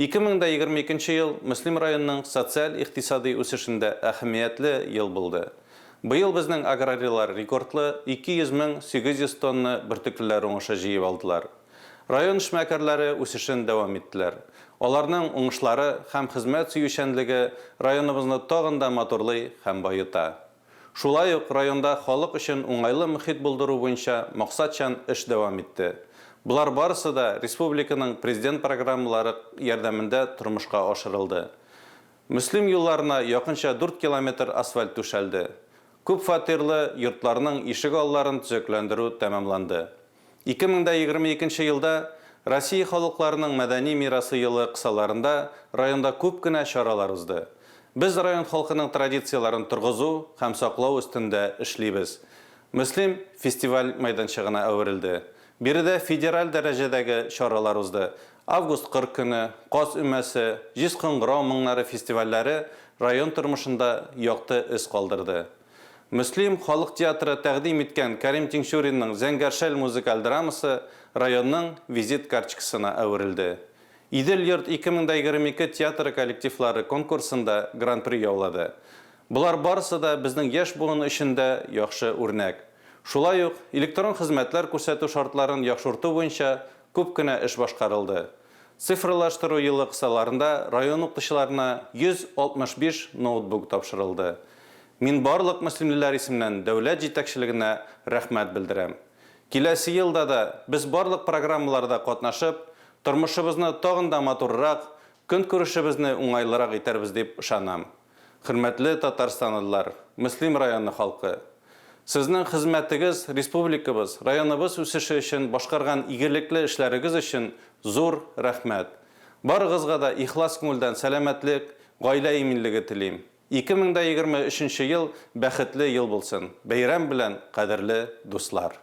Ике мең дә егерме икенче ел Мөслим районының социаль-икътисадый үсешендә әһәмиятле ел булды. Быел безнең аграрийлар рекордлы 200 мең 800 тонна бөртеклеләр уңышы җыеп алдылар. Район эшмәкәрләре үсешен дәвам иттеләр. Аларның уңышлары һәм хезмәт сөючәнлеге районыбызны тагын да матурлый һәм баета. Шулай ук районда халык өчен уңайлы мохит булдыру буенча максатчан эш дәвам итте. Болар барысы да республиканың Президент программалары ярдәмендә тормышка ашырылды. Мөслим юлларына якынча дүрт километр асфальт түшәлде. Күпфатирлы йортларның ишек алларын төзекләндерү тәмамланды. Ике мең дә егерме икенче елда Россия халыкларының мәдәни мирасы елы кысаларында районда күп кенә чаралар узды. Без район халкының традицияләрен торгызу һәм саклау өстендә эшлибез. Мөслим фестиваль мәйданчыгына әверелде. Биредә федераль дәрәҗәдәге чаралар узды. Август кыр көне, Каз өмәсе, Җиз кыңгырау моңнары фестивальләре район тормышында якты эз калдырды. Мөслим халык театры тәкъдим иткән Кәрим Тинчуринның Зәңгәр шәл музыкаль драмасы районның визит картчкасына әверелде. Идел-йорт 2022 театры коллективлары конкурсында гран-при яулады. Болар барысы да безнең яшь буын өчен дә яхшы үрнәк. Шулай ук, электрон хезмәтләр күрсәтү шартларын яхшырту буенча күп кенә эш башкарылды. Цифрлаштыру елы кысаларында район укытучыларына 165 ноутбук тапшырылды. Мин барлык мөслимлеләр исеменнән дәүләт җитәкчелегенә рәхмәт белдерәм. Киләсе елда да без барлык программаларда катнашып, тормышыбызны тагын да матуррак, көнкүрешебезне уңайлырак итәрбез дип ышанам. Хөрмәтле татарстанлылар, Мөслим районы халкы! Сезнең хезмәтегез республикабыз, районыбыз үсеше өчен башкарган игелекле эшләрегез өчен зур рәхмәт! Барыгызга да ихлас күңелдән сәламәтлек, гаилә иминлеге телим! 2023 ел бәхетле ел булсын! Бәйрәм белән, кадерле дуслар!